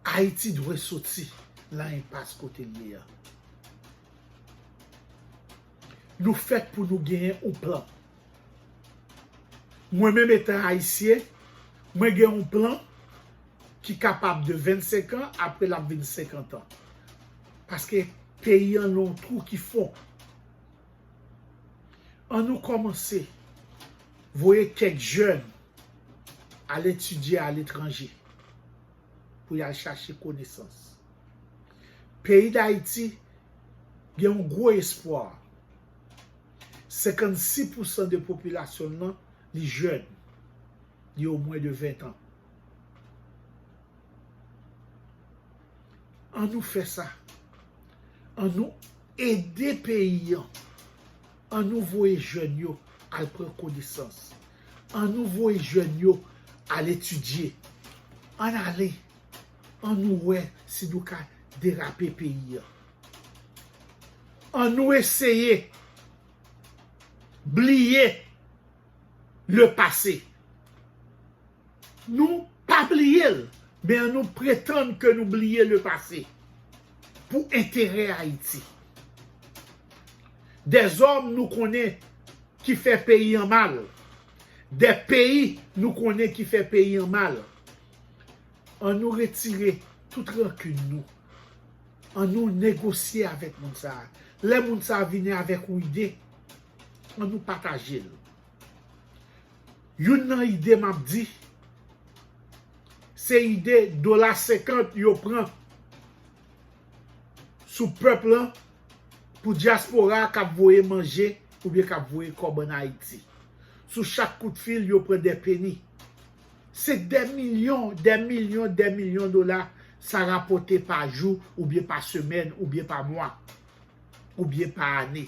Ayiti dwe soti lan enpas kote l ye an. Nou fèt pou nou genyen yon plan. Mwen menm etan Ayisyen, mwen gen yon plan ki kapab de 25 an, apre l ap vin 50 an. Paske peyi an nan yon twou ki fon. An nou kòmanse voye kèk jèn al etidye aletranje pou y al chache konesans. Peyi Dayiti gen yon gwo espwa. 56 pousan de popilasyon l lan li jèn, li o mwen de 20 tan. An nou fè sa, an nou Ede peyi an. An nou voye jèn yo al pran konesans. An nou voye jèn yo al etidye. Ann ale. An nou wè si nou ka derape peyi an. An nou eseye bliye le pase. Nou pa bliye l, men an nou pretann ke nou bliye le pase pou enterè Ayiti. Dè zòm nou konnen ki fè peyi an mal, dè peyi nou konnen ki fè peyi an mal, an nou retire tout rankin nou, an nou negosye avèk moun sa a, lè moun sa a vini avèk ou ide, an nou pataje l. Youn nan ide map di. Se ide dola 50 yo pran sou pèp lan pou dyaspora kap voye manje oubyen kap voye kòb an Ayiti. Sou chak kout fil yo pran dè peni. Se dè milyon, dè milyon, dè milyon dola sa rapòte pa jou oubyen pa semèn oubyen pa mwa oubyen pa ane.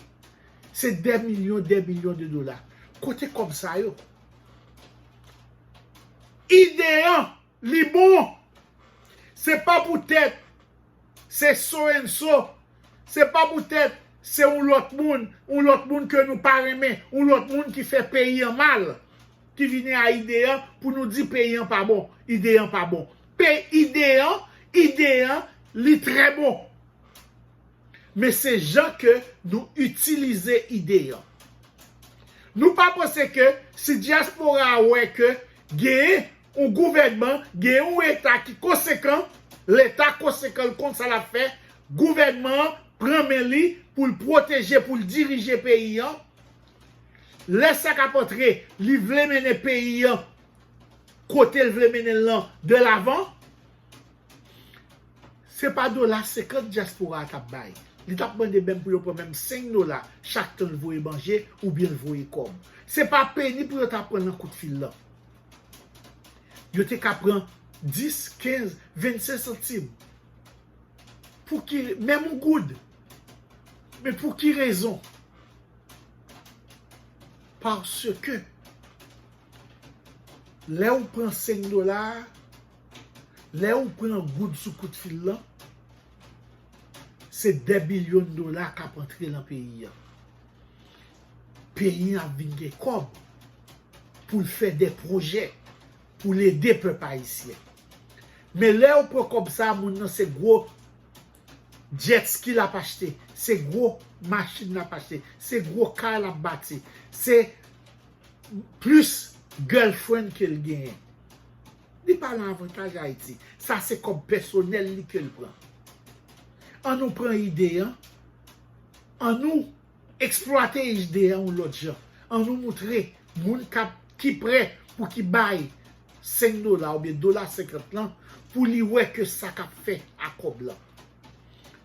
Se dè milyon dè milyon de dola. Kote kòb sa yo? Ide an, li bon. Se pa poutèt se so and so, se pa poutèt se yon lòt moun, yon lòt moun ke nou pa renmen, yon lòt moun ki fè peyi an mal, ki vini a ide an pou nou di peyi an pa bon, ide an pa bon. Pe ide an, ide an, li trè bon. men se jan ke nou itilize ide an. Nou pa panse ke si dyaspora a wè ke genyen yon gouvènman, genyen yon eta ki konsekan, leta konsekan l konn sa lap fè, gouvènman an pran men li pou l pwoteje, pou l dirije peyi an, lè sa kap antre li vle mennen peyi an kote l vle mennen l lan de lavan. Se pa dola 50 dyaspora a t ap bay. Li t ap mande menm pou yo pran menm 5 dola chak tan l voye manje oubyen l voye kòb. Se pa peni pou yo ta pran nan kout fil lan. Yo te ka pran 10, 15, 25 santim. Pou ki, menm yon goud. Men pou ki rezon? Paske, lè ou pran 5 dola a, Lè ou pran goud sou kout fil lan, se dè bilyon dola k ap antre lan peyi an. Peyi an ap vin gen kòb pou l fè dè pwojè, pou l ede pèp ayisyen. Men lè ou pran kòb sa a, moun nan se gwo jet ski l ap achte, se gwo machin l ap achte, se gwo kay l ap bati, se plis girlfriend ke l genyen. Li pa lan avantaj Ayiti. Sa se kòb pèsonèl li ke l pran. An nou pran ide an, an nou eksplwate ide an yon lòt jan. An nou moutre moun kap ki prè pou ki bay 5 dola oubyen dola 50 lan pou li wè ke sa kap fè a kòb lan.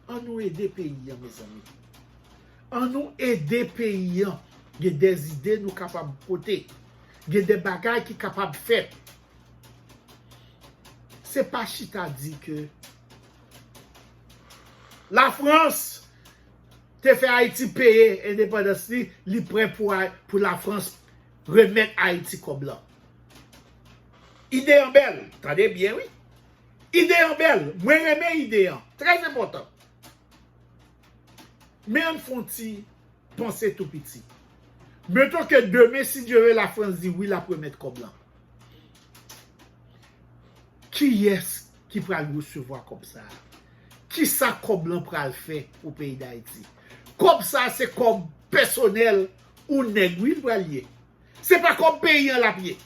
An nou ede peyi an mezanmi. An nou ede peyi an. Gen dè ide nou kapab pote. gen de bagay ki kapab fèt. Se pa chita di ke la Frans te fè Ayiti peye endepandans li, li prè pou la Frans remèt Ayiti kòb la. Ide an bèl, tande byen wi. Ide an bèl, mwen renmen ide an, trè enpòtan. Men an fon ti Panse tou piti. Meton ke demen si Dye ve la Frans di wi lap remèt kòb lan. Kiyès ki pral resevwa kòb sa a? Kisa kòb lan pral fè pou peyi Dayiti? Kòb sa a se kòb pèsonèl ou nèg wi li pral ye. Se pa kòb peyi an lap ye.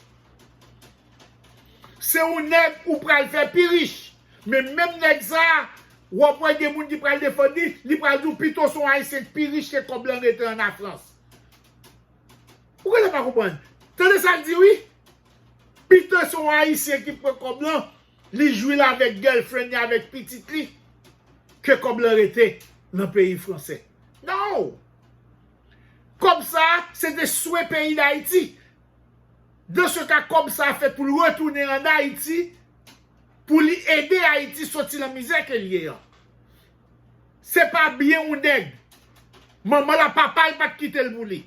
Se yon nèg ou pral fè pi rich. Men menm nèg sa a, w ap wè gen moun ki pral defann li, li pral di w pito se yon Ayisyen ki pi rich ke kòb lan rete an Lafrans. Ou genlè pa konprann. Tande sa l di wi, Pito se yon Ayisyen ki pran kòb lan, li jwi l avèk girlfriend li, avèk pitit li, ke kòb lan rete nan peyi franse. Non! Kòb sa a, se te swen peyi Dayiti. Dans ce cas kòb sa fèt poul retounen an Haïti pou li ede Haïti soti lan mizè kel ye an. Se pa byen yon nèg. Manmanl a papal pat kitel pou li.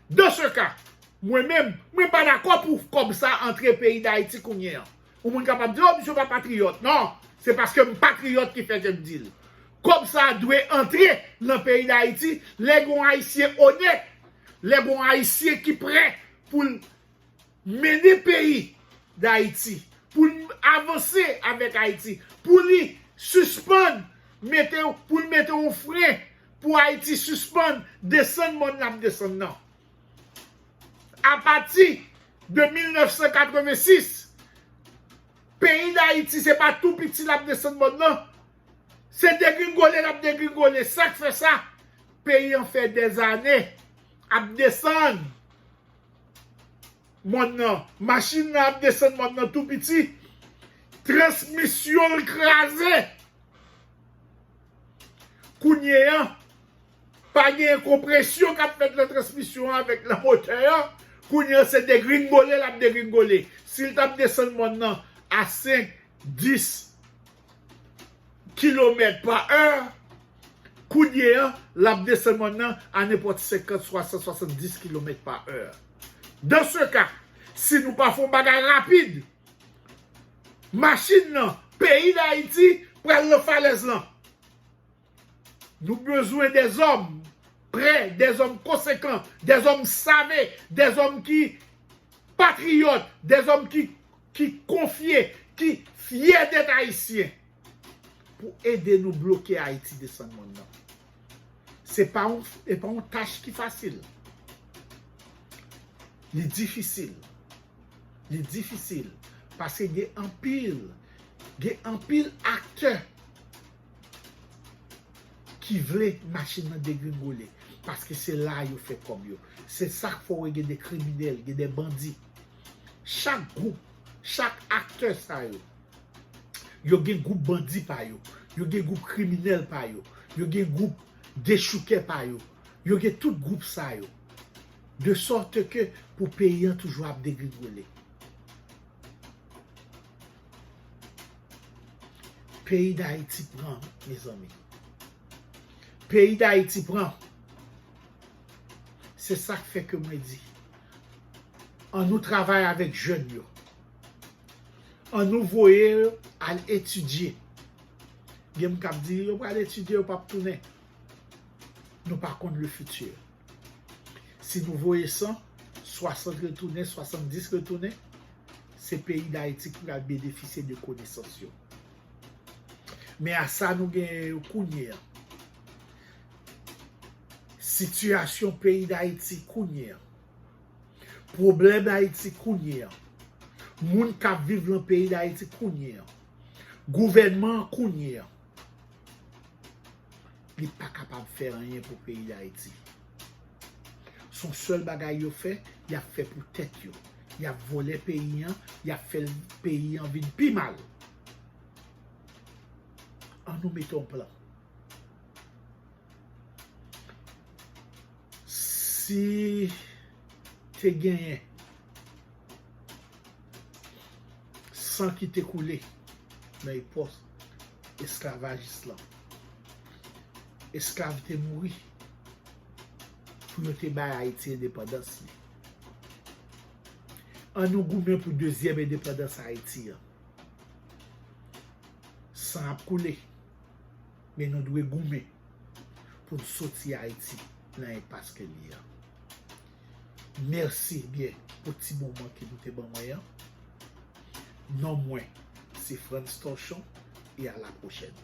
Dans ce cas, mwen menm, mwen pa dakò pou kòb sa antre peyi d'Haïti kounye an. Yon moun kapab di, oh misye pa patriyòt. Non, se paske m patriyòt ki fè ke m di l. Kòb sa a dwe antre nan peyi Dayiti lè gen yon Ayisyen onèt, lè gen yon Ayisyen ki prè pou l mennen peyi Dayiti, pou l avanse avèk Ayiti, pou li sispann mete yon, pou l mete yon fren pou Ayiti sispann desann mòn l ap desann nan. Apati de 1986, peyi Dayiti se pa tou piti l ap desann mòn nan, se degringole l ap degringole. Sa k fè sa? Peyi an fè dèzane ap desann mòn nan, machin nan ap desann mòn nan tou piti, transmisyon l kraze. Kounye a. Pa gen konpresyon kap fèt nan transmisyon an avèk nan motè an, kounye an se degringole lap degringole, sil tap desann mòn nan a 5, 10 kilomèt pa è, kounye an lap desann mòn nan a nenpòt 50, 60, 70 kilomèt pa è. Dan se ka, si nou pa fon bagay rapid, machin nan, peyi Dayiti, pral nan falèz lan. Nou bezwen dèzòm prè, dèzòm konsekan, dèzòm save, dèzòm ki patriyòt, dèzòm ki konfye, ki fyè dèt ayisyen pou ede nou bloke Ayiti desann mòn nan. Se pa yon tach ki fasil. Li difisil. Li difisil. Pase gen anpil, gen anpil aktè. ki vle machin nan degringole paske se la a yo fè kòb yo se sa k fè w wè gen de kriminèl gen de bandi chak gwoup chak aktè sa yo yo gen gwoup bandi pa yo yo gen gwoup kriminèl pa yo yo gen gwoup dechoukè pa yo yo gen tout gwoup sa yo de sòte ke pou peyi an toujou ap degringole. Peyi dayiti pran mezanmi. Peyi dayiti pran. Se sak fe ke mwen di. An nou travay avek jen yo. An nou voye yo al etidye. Gen moun kap di yo pral etidye yo pap tounen. Nou pa konn le fiti. Si nou voye 100, 60 retounen, 70 retounen, se peyi Dayiti ki pral benefisye de konesans yo. Men a sa nou genyen yo kounye an. Sitiyasyon peyi Dayiti kounye an. Pwoblèm Dayiti kounye an. Moun k ap viv lan peyi Dayiti kounye an. Gouvènman kounye an. Li pa kapab fè anyen pou peyi Dayiti. Son sèl bagay yo fè, yap fè pou tèt yo. Yap vòlè peyi an, yap fè peyi an vin pi mal. An nou mete yon plan. Si te genyen. San ki te koule nan epòk esklavajis lan. Esklav te mouri pou yo te bay Ayiti endepandans li. An nou goumen pou dezyèm endepandans Ayiti an. San ap koule, men nou dwe goumen pou n soti Ayiti nan enpas ke li an. Merci ebyen pou ti moman ke nou te ban mwen an. Non mwen se Frantz Torchon e a la prochèn.